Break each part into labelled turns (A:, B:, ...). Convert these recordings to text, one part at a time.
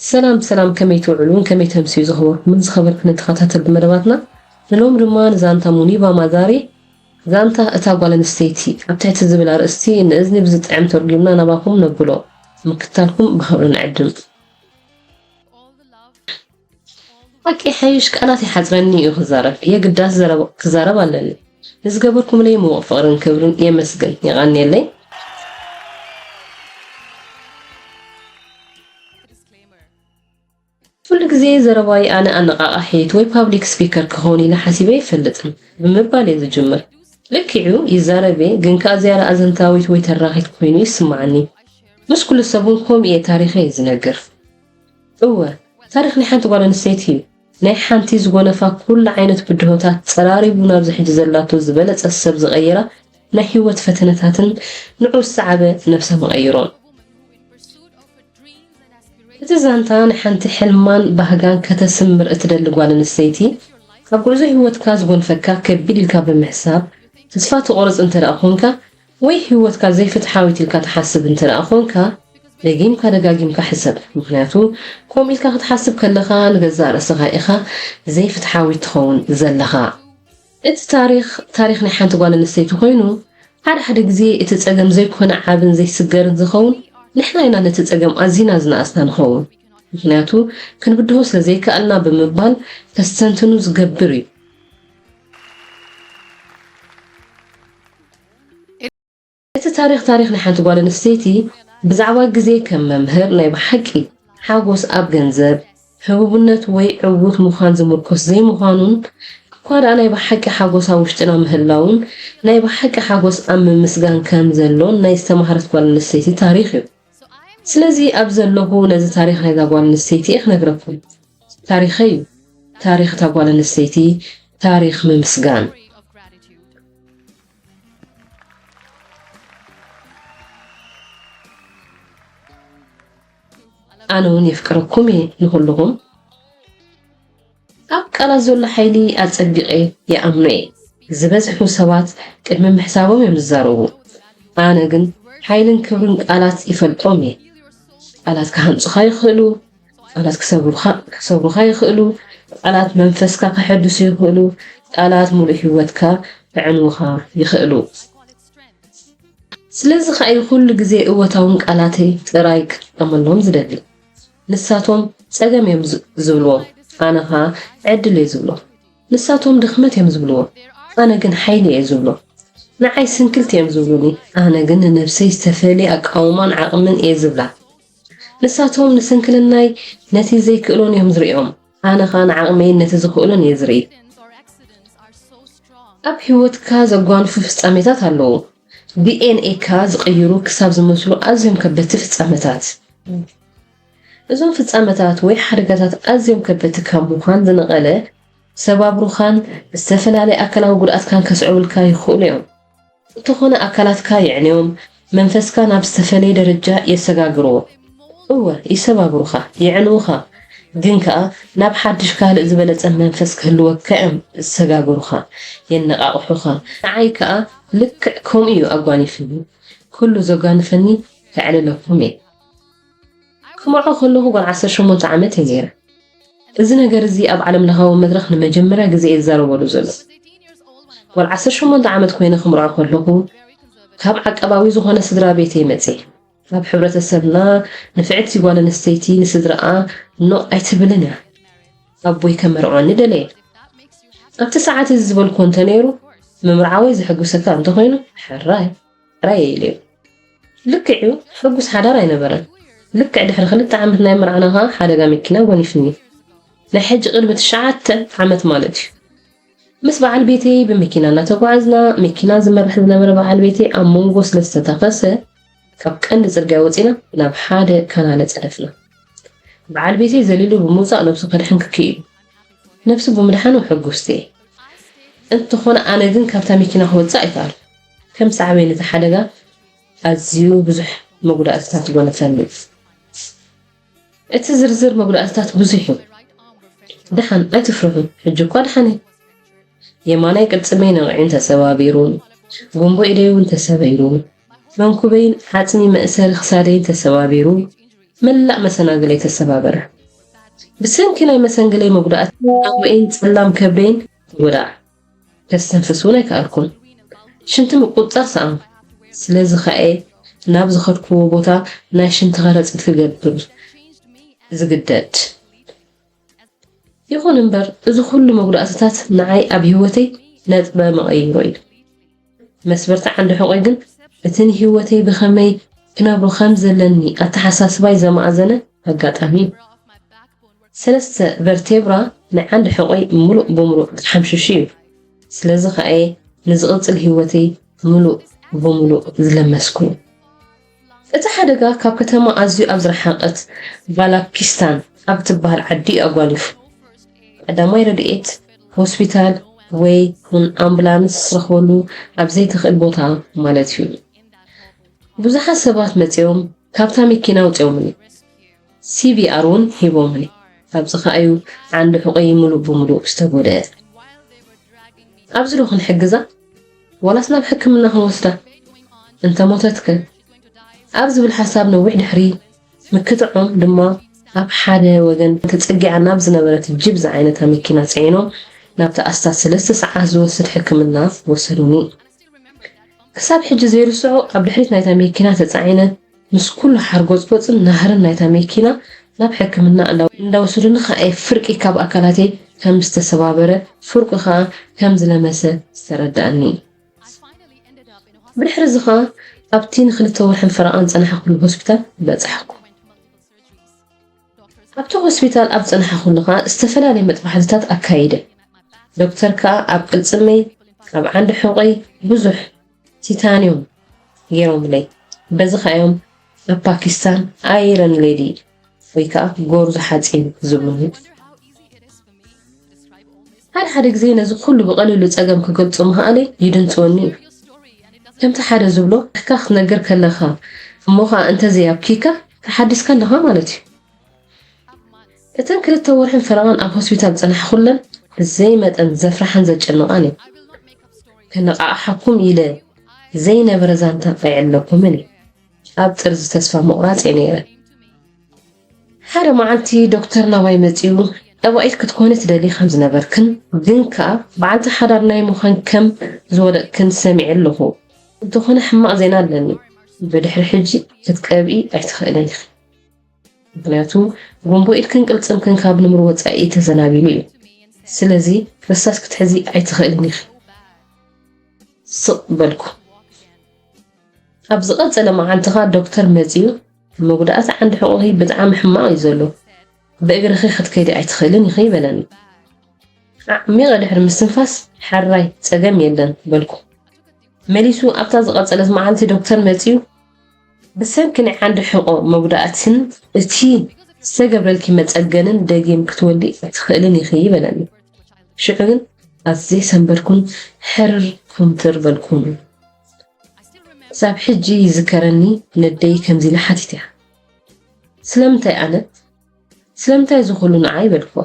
A: ሰላም ሰላም ከመይ ትውዕሉን ከመይ ተምስዩ ዝኸበርኩምን ዝኸበርክንን ተኸታተልቲ መደባትና ንሎሚ ድማ ንዛንታ ሙኒባ ማዛሪ ዛንታ እታ ጓል ኣንስተይቲ ኣብ ትሕቲ ዝብል ኣርእስቲ ንእዝኒ ብዝጥዕም ተርጒምና ናባኹም ነብሎ ምክትታልኩም ብኸብሪ ንዕድም። ሓቂ ይሓይሽ ቃላት ይሓጽረኒ እዩ ክዛረብ የግዳስ ዘረባ ክዛረብ ኣለኒ። ንዝገበርኩምለይ ምዉቕ ፍቕርን ክብርን የመስግን። የቐንየለይ። ኩሉ ግዜ ዘረባይ ኣነ ኣነቓቓሒት ወይ ፓብሊክ ስፒከር ክኸውን ኢለ ሓሲበ ኣይፈልጥን ብምባል እየ ዝጅምር። ልክዕ'ዩ ይዛረብ'የ ግን ከኣ ዝያዳ ኣዘንታዊት ወይ ተራኺት ኮይኑ ይስምዓኒ። ምስ ኩሉ ሰብ'ውን ከምኡ እየ ታሪኸይ ዝነግር። እወ ታሪኽ ናይ ሓንቲ ጓል ኣንስተይቲ'ዩ ናይ ሓንቲ ዝጎነፋ ኩሉ ዓይነት ብድሆታት ጸራሪጉ ናብዚ ሕጂ ዘላቶ ዝበለጸት ሰብ ዝቐየራ ናይ ህይወት ፈተነታትን ንዑ ዝሰዓበ ነብሰ መቐይሮን። እቲ ዛንታ ንሓንቲ ሕልማን ባህጋን ከተስምር እትደሊ ጓል ኣንስተይቲ ኣብ ጉዕዞ ህይወትካ ዝጎንፈካ ከቢድ ኢልካ ብምሕሳብ ተስፋ ትቖርጽ እንተደኣ ኮንካ ወይ ህይወትካ ዘይፍትሓዊት ኢልካ ትሓስብ እንተደኣ ኮንካ ደጊምካ ደጋጊምካ ሕሰብ ምኽንያቱ ከምኡ ኢልካ ክትሓስብ ከለኻ ንገዛእ ርእስኻ ኢኻ ዘይፍትሓዊት ትኸውን ዘለኻ። እቲ ታሪኽ ታሪኽ ናይ ሓንቲ ጓል ኣንስተይቲ ኮይኑ ሓደ ሓደ ግዜ እቲ ጸገም ዘይኮነ ዓብን ዘይስገርን ዝኸውን ንሕና ኢና ነቲ ጸገም ኣዚና ዝነኣስና ንኸውን ምኽንያቱ ክንብድሆ ስለ ዘይከኣልና ብምባል ከስተንትኑ ዝገብር እዩ። እቲ ታሪኽ ታሪኽ ናይ ሓንቲ ጓል ኣንስተይቲ ብዛዕባ ግዜ ከም መምህር ናይ ብሓቂ ሓጎስ ኣብ ገንዘብ፣ ህቡብነት ወይ ዕዉት ምዃን ዝምርኮስ ዘይምዃኑን እኳ ደኣ ናይ ብሓቂ ሓጎስ ኣብ ውሽጥና ምህላዉን ናይ ብሓቂ ሓጎስ ኣብ ምምስጋን ከም ዘሎን ናይ ዝተማህረት ጓል ኣንስተይቲ ታሪኽ እዩ። ስለዚ ኣብዚ ዘለኹ ነዚ ታሪኽ ናይዛ ጓል ኣንስተይቲ እየ ክነግረኩም። ታሪኸይ እዩ። ታሪኽ እታ ጓል ኣንስተይቲ ታሪኽ ምምስጋን። ኣነ ውን የፍቅረኩም እየ ንኹሉኹም። ኣብ ቃላት ዘሎ ሓይሊ ኣጸቢቐ ይኣምኖ እየ። ዝበዝሑ ሰባት ቅድሚ ምሕሳቦም እዮም ዝዛረቡ። ኣነ ግን ሓይልን ክብርን ቃላት ይፈልጦም እየ። ቃላት ክሃንጹኻ ይኽእሉ፣ ቃላት ክሰብሩኻ ይኽእሉ፣ ቃላት መንፈስካ ከሐድሱ ይኽእሉ፣ ቃላት ምሉእ ህይወትካ ከዕንዉኻ ይኽእሉ። ስለዚ ከኣ'ዩ ኩሉ ግዜ እወታውም ቃላተይ ጥራይ ክጥቀመሎም ዝደሊ። ንሳቶም ጸገም እዮም ዝብልዎ ኣነ ከኣ ዕድል እየ ዝብሎ። ንሳቶም ድኽመት እዮም ዝብልዎ ኣነ ግን ሓይሊ እየ ዝብሎ። ንዓይ ስንክልቲ እዮም ዝብሉኒ ኣነ ግን ንነብሰይ ዝተፈልየ ኣቃውማን ዓቕምን እየ ዝብላ። ንሳቶም ንስንክልናይ ነቲ ዘይክእሎን እዮም ዝርእዮም ኣነ ከኣ ንዓቕመይን ነቲ ዝኽእሎን እየ ዝርኢ። ኣብ ህይወትካ ዘጓንፉ ፍጻሜታት ኣለዉ። DNA-ካ ዝቕይሩ ክሳብ ዝመስሉ ኣዝዮም ከበድቲ ፍጻመታት። እዞም ፍጻመታት ወይ ሓደጋታት ኣዝዮም ከበድቲ ካብ ምዃን ዝነቐለ፣ ሰባብሩኻን ዝተፈላለየ ኣካላዊ ጉድኣትካን ከስዕቡልካ ይኽእሉ እዮም። እንተኾነ ኣካላትካ የዕንዮም፣ መንፈስካ ናብ ዝተፈለየ ደረጃ የሰጋግርዎ። እወ፣ ይሰባብሩኻ፣ የዕንዉኻ፣ ግን ከኣ ናብ ሓድሽ ካልእ ዝበለጸ መንፈስ ክህልወካ እዮም ዝሰጋግሩኻ፣ የነቓቕሑኻ። ንዓይ ከኣ ልክዕ ከምኡ እዩ ኣጓኒፍኒ። ኩሉ ዘጓንፈኒ ከዕልለኩም እየ። ክመርዖ ከለኹ ጓል ዓሰርተ ሸሞንተ ዓመት እየ ነይረ። እዚ ነገር እዚ ኣብ ዓለም ለኻዊ መድረኽ ንመጀመርያ ግዜ እየ ዝዛረበሉ ዘሎ። ጓል ዓሰርተ ሸሞንተ ዓመት ኮይነ ክምርዖ ከለኹ ካብ ዓቀባዊ ዝኾነ ስድራ ቤት እየ መጽየ። ኣብ ሕብረተሰብና ንፍዕቲ ጓል ኣንስተይቲ ንስድራኣ ኖ ኣይትብልን እያ። ኣቦይ ከመርዖኒ ደለየ። ኣብቲ ሰዓት እዚ ዝበልክዎ እንተነይሩ ምምርዓወይ ዘሐጉሰካ እንተኾይኑ ሕራይ። ራየ ኢሉ እዩ። ልክዕ እዩ ሕጉስ ሓዳር ኣይነበረን። ልክዕ ድሕሪ ክልተ ዓመት ናይ ምርዓና ከኣ ሓደጋ መኪና ጎኒፍኒ። ናይ ሕጂ ቅድሚ ትሽዓተ ዓመት ማለት እዩ። ምስ በዓል ቤተይ ብመኪና እናተጓዓዝና መኪና ዝመርሕ ዝነበረ በዓል ቤተይ ኣብ መንጎ ስለ ዝተታኸሰ ካብ ቀንዲ ጽርግያ ወጺና ናብ ሓደ ካናለ ጸደፍና። በዓል ቤተይ ዘሊሉ ብምውጻእ ነብሱ ከድሕን ክክኢሉ። ነብሱ ብምድሓኑ ሕጉስቲ እየ። እንተኾነ ኣነ ግን ካብታ መኪና ክወጽእ ኣይከኣልኩን። ከም ሳዕቤን እቲ ሓደጋ ኣዝዩ ብዙሕ መጉዳእትታት ይጎነፈኒ እዩ። እቲ ዝርዝር መጉዳእትታት ብዙሕ እዩ። ደሓን ኣይትፍርሑ ሕጂ እኳ ደሓን እየ። የማናይ ቅልጽመይ ነቒዑን ተሰባቢሩን፣ ጉምቦ ኢደይ እውን ተሰቢሩ፣ መንኩበይን ዓጽሚ መእሰሪ ክሳደይን ተሰባቢሩ፣ መላእ መሰናግለይ ተሰባበረ። ብሰንኪ ናይ መሰንግለይ መጉዳእቲ ሓንጎኤይን ጸላም ከብደይን ተጎድኣ። ከስተንፍስ እውን ኣይከኣልኩን። ሽንቲ ምቁጽጻር ሰኣንኩ። ስለዚ ኸኣ'የ ናብ ዝኸድኩዎ ቦታ ናይ ሽንቲ ከረጺት ክገብር ዝግደድ። ይኹን እምበር፣ እዚ ዅሉ መጕዳእትታት ንዓይ ኣብ ህይወተይ ነጥበ መቐይሮ'ዩ። መስበርቲ ዓንዲ ሕቆይ ግን እቲ ንህይወተይ ብኸመይ ክነብሮ ከም ዘለኒ ኣተሓሳስባይ ዘማእዘነ ኣጋጣሚ እዩ። ሰለስተ ቨርቴብራ ናይ ዓንዲ ሕቆይ ምሉእ ብምሉእ ተሓምሺሹ እዩ። ስለዚ ከኣ'የ ንዝቕጽል ህይወተይ ምሉእ ብምሉእ ዝለመስኩ። እቲ ሓደጋ ካብ ከተማ ኣዝዩ ኣብ ዝረሓቐት ባላኪስታን ኣብ እትበሃል ዓዲ እዩ ኣጓኒፉ። ቀዳማይ ረድኤት፣ ሆስፒታል ወይ ውን ኣምቡላንስ ዝረኽበሉ ኣብ ዘይተኽእል ቦታ ማለት እዩ። ብዙሓት ሰባት መጺኦም ካብታ መኪና ኣውጺኦምኒ፣ ሲቢኣር ውን ሂቦምኒ፣ ኣብዚ ኸኣ እዩ ዓንዲ ሑቐይ ምሉእ ብምሉእ ዝተጎድኣ። ኣብዚ ዶ ክንሕግዛ? ዋላስ ናብ ሕክምና ክንወስዳ? እንተ ሞተትከ? ኣብ ዝብል ሓሳብ ነዊሕ ድሕሪ ምክትዖም ድማ ኣብ ሓደ ወገን ተጸጊዓ ናብ ዝነበረት ጂፕ ዝዓይነታ መኪና ጽዒኖም ናብቲ ኣስታት ሰለስተ ሰዓት ዝወስድ ሕክምና ወሰዱኒ። ክሳብ ሕጂ ዘይርስዖ ኣብ ድሕሪት ናይታ መኪና ተጻዒነ ምስ ኩሉ ሓርጎጽጎጽን ናህርን ናይታ መኪና ናብ ሕክምና እንዳወሰዱኒ ከኣ ፍርቂ ካብ ኣካላተይ ከም ዝተሰባበረ ፍርቁ ከኣ ከም ዝለመሰ ዝተረድኣኒ። ብድሕር'ዚ ከኣ ኣብቲ ንክልተ ወርሕን ፈረቓን ዝጸናሕኩሉ ሆስፒታል በጻሕኩ። ኣብቲ ሆስፒታል ኣብ ዝጸናሕኩሉ ከኣ ዝተፈላለየ መጥባሕትታት ኣካይደ። ዶክተር ከኣ ኣብ ቅልጽመይ፣ ኣብ ዓንዲ ሕቖይ ብዙሕ። ቲታንዩም ገይሮምለይ በዚ ከኣ እዮም ኣብ ፓኪስታን ኣይረን ሌዲ ወይ ከዓ ጎርዞ ሓፂን ዝብሉኒ። ሓደ ሓደ ግዜ ነዚ ኩሉ ብቐሊሉ ጸገም ክገልጹ ምኽኣለይ ይድንጽወኒ እዩ። ከምቲ ሓደ ዝብሎ ኣሕካ ክትነግር ከለኻ እሞ ኸኣ እንተዘይ ኣብኪካ ተሓዲስካ ኣለኻ ማለት እዩ። እተን ክልተ ወርሕን ፈረቓን ኣብ ሆስፒታል ዝጸናሕኩለን ብዘይ መጠን ዘፍርሓን ዘጨንቓን እዩ። ከነቓቕሓኩም ኢለ ዘይነበረ ዛንታ ቀይዕለኩምን እዩ። ኣብ ጥርዚ ተስፋ ምቑራጽ እየ ነይረ። ሓደ መዓልቲ ዶክተር ናባይ መጺኡ ጠባኢት ክትኮኒ ትደሊ ከም ዝነበርክን ግን ከኣ በዓልቲ ሓዳር ናይ ምዃን ከም ዝወደቕክን ሰሚዐ ኣለኹ። እንተኾነ ሕማቕ ዜና ኣለኒ፣ ብድሕሪ ሕጂ ክትቀብኢ ኣይትኽእልን ኢኺ። ምክንያቱ ጉምቦ ኢድክን ቅልጽምክን ካብ ንሙር ወጻኢ ተዘናቢሉ እዩ ስለዚ ረሳስ ክትሕዚ ኣይትክእልን ኢኪ ስቅ በልኩ ኣብ ዝቀጸለ መዓልትካ ዶክተር መጽዩ መጉዳእቲ ዓንዲ ሕቁኪ ብጣዕሚ ሕማቅ እዩ ዘሎ ብእግርኪ ክትከዲ ኣይትክእልን ኢኪ በለኒ ኣዕሚቀ ድሕሪ ምስትንፋስ ሐራይ ጸገም የለን በልኩ መሊሱ ኣብታ ዝቀጸለት መዓልቲ ዶክተር መጽዩ ብሰንኪ ናይ ዓንዲ ሕቖ መጉዳእትን እቲ ዝተገብረልኪ መጸገንን ደጊም ክትወልዲ ኣይትኽእልን ኢኺ በለኒ። ሽዑ ግን ኣዝየ ሰንበድኩን ሕርር ኩምትር በልኩን። ክሳብ ሕጂ ይዝከረኒ ነደይ ከምዚ ኢላ ሓቲተያ፣ ስለምንታይ ኣነ? ስለምንታይ እዚ ኩሉ ንዓይ? በልክዋ።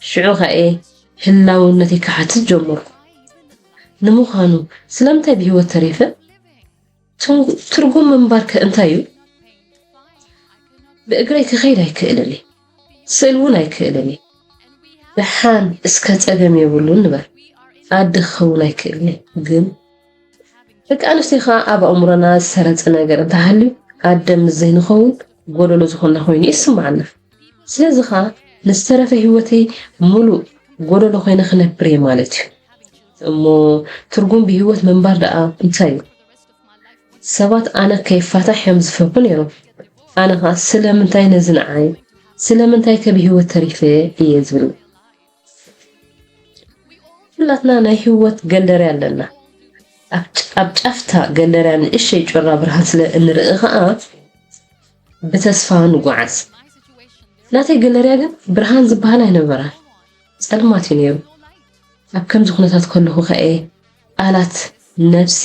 A: ሽዑ ከኣ'የ ህላውነተይ ክሓትት ጀመርኩ። ንምዃኑ ስለምንታይ ብህይወት ተሪፈ? ትርጉም ምንባር ከ እንታይ እዩ? ብእግረይ ክኸይድ ኣይክእልን እየ፣ ስእል እውን ኣይክእልን እየ። ደሓን እስከ ጸገም የብሉን ንበር፣ ኣደ ክኸውን ኣይክእልን እየ። ግን ደቂ ኣንስትዮ ከዓ ኣብ ኣእምሮና ዝሰረጸ ነገር እንተሃልዩ ኣደ ምስ ዘይንኸውን ጎደሎ ዝኾና ኮይኑ ይስማዓና። ስለዚ ከዓ ንዝተረፈ ህይወተይ ሙሉእ ጎደሎ ኮይነ ክነብር እየ ማለት እዩ። እሞ ትርጉም ብሂወት ምንባር ደኣ እንታይ እዩ? ሰባት ኣነ ከይፋታሕ እዮም ዝፈርሁ ነይሮም። ኣነ ከኣ ስለምንታይ ነዚ ንዓይ? ስለምንታይከ ብሂወት ተሪፈ እየ ዝብል። ኩላትና ናይ ሂወት ገለርያ ኣለና። ኣብ ጫፍታ ገለርያ ንእሸይ ጩራ ብርሃን ስለ እንርኢ ከኣ ብተስፋ ንጉዓዝ። ናተይ ገለርያ ግን ብርሃን ዝበሃል ኣይነበራን። ጸልማት እዩ ነይሩ። ኣብ ከምዚ ኵነታት ከለኹ ኸኣ ቃላት ነፍሲ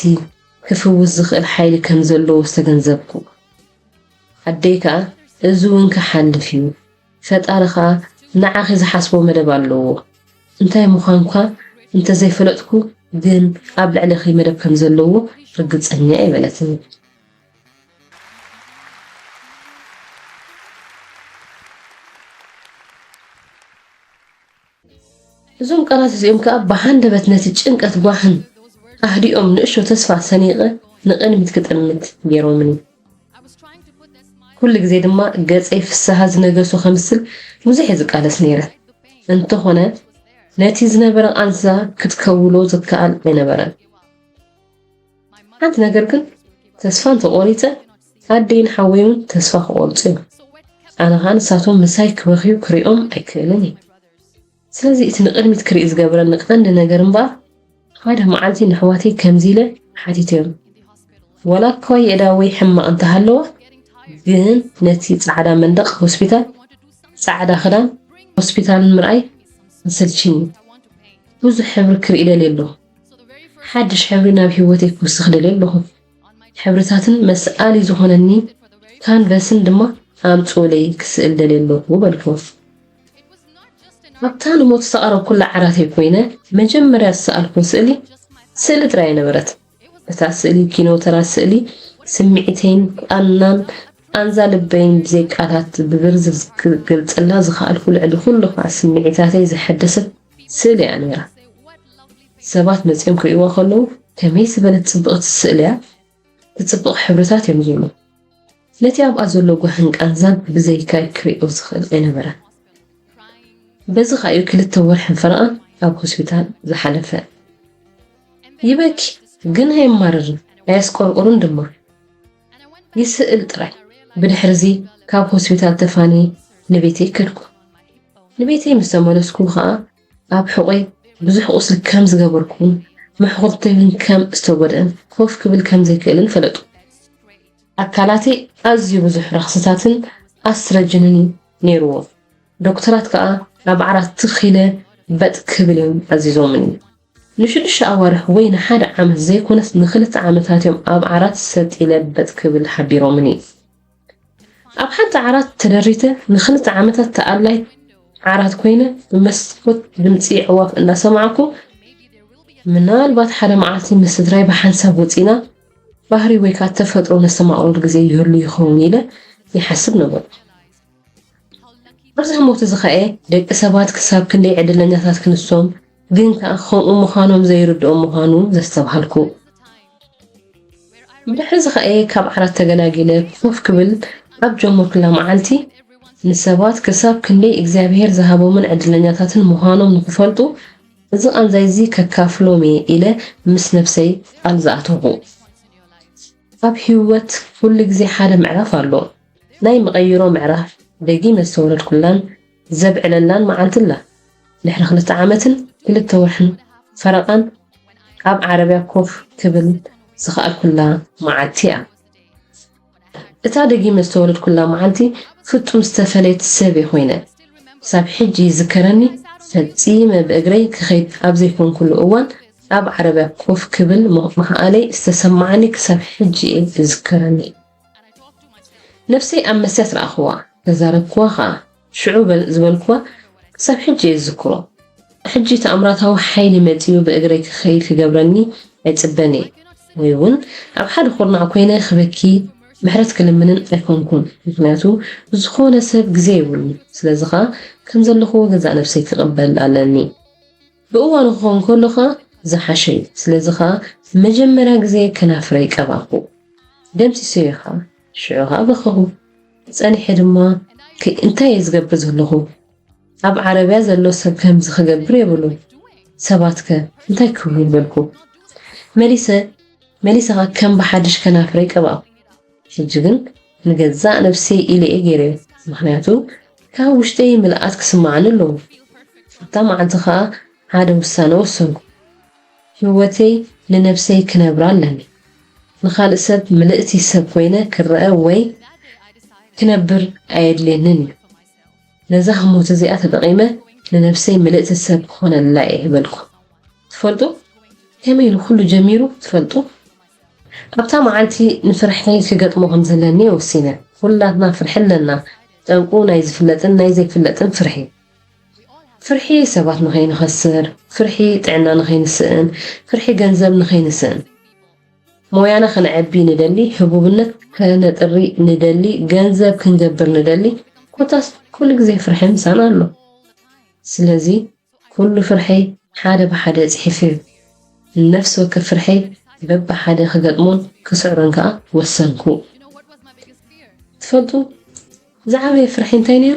A: ክፍውስ ዝኽእል ሓይሊ ከም ዘለዎ ዝተገንዘብኩ። ኣደይ ከኣ እዚ እውን ክሓልፍ እዩ፣ ፈጣሪ ኸኣ ንዓኺ ዝሓስቦ መደብ ኣለዎ፣ እንታይ ምዃንኳ እንተ ዘይፈለጥኩ ግን ኣብ ልዕሌኺ መደብ ከም ዘለዎ ርግጸኛ እየ በለትኒ። እዞም ቃላት እዚኦም ከኣ ብሃንደበት ነቲ ጭንቀት ጓህን ኣህዲኦም ንእሽቶ ተስፋ ሰኒቐ ንቕድሚት ክጥምት ገይሮምኒ። ኩሉ ግዜ ድማ ገጸይ ፍስሃ ዝነገሶ ከምስል ብዙሕ እየ ዝቃለስ ነይረ፣ እንተኾነ ነቲ ዝነበረ ቃንዛ ክትከውሎ ዝከኣል ኣይነበረን። ሓንቲ ነገር ግን ተስፋ እንተቆሪፀ ኣደይን ሓወይ እውን ተስፋ ክቆርፁ እዮም ኣነ ከዓ ንሳቶም ምሳይ ክበኽዩ ክሪኦም ኣይክእልን እየ ስለዚ እቲ ንቅድሚት ክርኢ ዝገብረኒ ቀንዲ ነገር እምበኣር ሓደ መዓልቲ ንኣሕዋተይ ከምዚ ኢለ ሓቲተዮም ወላ እኳ የእዳ ወይ ሕማቕ እንተሃለዋ ግን ነቲ ጻዕዳ መንደቕ ሆስፒታል ጻዕዳ ክዳን ሆስፒታልን ምርኣይ ኣሰልቺኒ ብዙሕ ሕብሪ ክርኢ ደልየ ኣለኹ ሓድሽ ሕብሪ ናብ ህይወተይ ክውስኽ ደልየ ኣለኹ። ሕብርታትን መስኣሊ ዝኾነኒ ካንቨስን ድማ ኣምጽኡለይ ክስእል ደልየ ኣለኹ በልክዎ። ኣብታ ንሞት ዝተቐረብኩላ ዓራተይ ኮይነ መጀመርያ ዝሰኣልክዎ ስእሊ፣ ስእሊ ጥራይ ኣይነበረት። እታ ስእሊ ኪኖ ተራ ስእሊ ስምዒተይን ቃናን ቃንዛ ልበይን ብዘይ ቃላት ብዝርዝር ክገልጸላ ዝኸኣልኩ ልዕሊ ኩሉ ከኣ ስምዒታተይ ዘሐደሰት ስእሊ እያ ነይራ ሰባት መጺኦም ክርእይዋ ከለዉ ከመይ ዝበለት ጽብቕቲ ስእሊ እያ ትጽብቕ ሕብርታት እዮም ዝብሉ ነቲ ኣብኣ ዘሎ ጓህን ቃንዛን ብዘይካይ ክርእዮ ዝኽእል ኣይነበረን በዚ ከኣ እዩ ክልተ ወርሕን ፈረቓን ኣብ ሆስፒታል ዝሓለፈ ይበኪ ግን ኣየማርርን ኣየስቆርቁርን ድማ ይስእል ጥራይ። ብድሕርዚ ካብ ሆስፒታል ተፋንየ ንቤተይ ከድኩ። ንቤተይ ምስ ተመለስኩ ከኣ ኣብ ሕቖይ ብዙሕ ቁስሊ ከም ዝገበርኩን መሕኹርተይ እውን ከም ዝተጎድኣን ኮፍ ክብል ከም ዘይክእልን ፈለጡ። ኣካላተይ ኣዝዩ ብዙሕ ረኽስታትን ኣስትረጅንን እዩ ነይርዎ፣ ዶክተራት ከኣ ኣብ ዓራት ትኽ ኢለ በጥ ክብል እዮም ኣዚዞምኒ። ንሽዱሽተ ኣዋርሕ ወይ ንሓደ ዓመት ዘይኮነስ ንኽልተ ዓመታት'ዮም ኣብ ዓራት ሰጥ ኢለ በጥ ክብል ሓቢሮምኒ። ኣብ ሓንቲ ዓራት ተደሪተ ንኽልተ ዓመታት ተኣላይ ዓራት ኮይነ ብመስኮት ድምጺ ኣዕዋፍ እናሰማዕኩ ምናልባት ሓደ መዓልቲ ምስ ስድራይ ብሓንሳብ ወጺእና ባህሪ ወይ ከኣ ተፈጥሮ ነስተማቕረሉ ግዜ ይህሉ ይኸውን ኢለ ይሓስብ ነበርኩ። ኣብዛ ሞት እዚ ኸእ ደቂ ሰባት ክሳብ ክንደይ ዕድለኛታት ክንሶም ግን ከኣ ከምኡ ምዃኖም ዘይርድኦም ምዃኑ ዘስተብሃልኩ። ድሕሪ እዚ ኸእ ካብ ዓራት ተገላጊለ ኮፍ ክብል ኣብ ጀመርኩላ መዓልቲ ንሰባት ክሳብ ክንደይ እግዚኣብሔር ዝሃቦምን ዕድለኛታትን ምዃኖም ንኽፈልጡ እዚ ቃንዛይ እዚ ከካፍሎም እየ ኢለ ምስ ነፍሰይ ቃል ዝኣተኹ። ኣብ ህይወት ኩሉ ግዜ ሓደ ምዕራፍ ኣሎ። ናይ መቐይሮ ምዕራፍ ደጊመ ዝተወለድኩላን ዘብዕለላን መዓልቲ ኣላ። ድሕሪ ክልተ ዓመትን ክልተ ወርሕን ፈረቓን ኣብ ዓረብያ ኮፍ ክብል ዝኸኣልኩላ መዓልቲ'ያ። እታ ደጊመ ዝተወለድኩላ መዓልቲ ፍጹም ዝተፈለየት ሰብ'የ ኮይነ። ክሳብ ሕጂ ይዝከረኒ፣ ፈጺመ ብእግረይ ክኸይድ ኣብ ዘይኮንኩሉ እዋን ኣብ ዓረብያ ኮፍ ክብል ምኽኣለይ ዝተሰመዓኒ ክሳብ ሕጂ'የ ዝዝከረኒ። ነብሰይ ኣብ መስትያት ረኣኹዋ፣ ተዛረብኩዋ ከኣ። ሽዑ ዝበልኩዋ ክሳብ ሕጂ እየ ዝዝክሮ። ሕጂ ተኣምራታዊ ሓይሊ መጺኡ ብእግረይ ክኸይድ ክገብረኒ ኣይጽበን እየ፣ ወይ እውን ኣብ ሓደ ኩርናዕ ኮይነ ክበኪ ምሕረት ክልምንን ኣይኮንኩን፣ ምኽንያቱ ንዝኾነ ሰብ ግዜ የብሉን፣ ስለዚ ከኣ ከም ዘለኹዎ ገዛእ ነብሰይ ክቕበል ኣለኒ። ብእዋኑ ክኸውን ከሎ ኸኣ ዝሓሸ እዩ። ስለዚ ኸኣ ንመጀመርያ ግዜ ከናፍረይ ቀባእኩ። ደምሲሰዮ ኸኣ። ሽዑ ኸኣ በኸኹ። ጸኒሐ ድማ ከይ እንታይ እየ ዝገብር ዘለኹ? ኣብ ዓረብያ ዘሎ ሰብ ከምዚ ክገብር የብሉን። ሰባትከ እንታይ ክብሉ? በልኩ። መሊሰ መሊሰ ኸኣ ከም ብሓድሽ ከናፍረይ ቀባእኩ። ሕጂ ግን ንገዛእ ነብሰይ ኢለ'የ ጌረዮ፣ ምኽንያቱ ካብ ውሽጠይ ምልኣት ክስምዓኒ ኣለዎ። ኣብታ መዓልቲ ከኣ ሓደ ውሳነ ወሰንኩ፣ ህይወተይ ንነብሰይ ክነብራ ኣለኒ። ንኻልእ ሰብ ምልእቲ ሰብ ኮይነ ክረኣ ወይ ክነብር ኣየድልየንን እዩ። ነዛ ህሞት እዚኣ ተጠቒመ ንነብሰይ ምልእቲ ሰብ ክኾነላ'የ በልኩ። ትፈልጡ ከመይ ኢሉ ኩሉ ጀሚሩ ትፈልጡ? ኣብታ መዓልቲ ንፍርሒ ክገጥሞ ከም ዘለኒ ወሲነ። ኩላትና ፍርሒ ኣለና፣ ጠንቁ ናይ ዝፍለጥን ናይ ዘይፍለጥን ፍርሒ። ፍርሒ ሰባት ንኸይንኸስር፣ ፍርሒ ጥዕና ንኸይንስእን፣ ፍርሒ ገንዘብ ንኸይንስእን። ሞያና ከነዕቢ ንደሊ፣ ህቡብነት ከነጥሪ ንደሊ፣ ገንዘብ ክንገብር ንደሊ፣ ኮታስ ኩሉ ግዜ ፍርሒ ምሳና ኣሎ። ስለዚ ኩሉ ፍርሐይ ሓደ ብሓደ ጽሒፈዮ። ንነፍሲ ወከፍ ፍርሐይ በብሓደ ክገጥሞን ክስዕሮን ከኣ ወሰንኩ። ትፈልጡ ዝዓበየ ፍርሐይ እንታይ ነይሩ?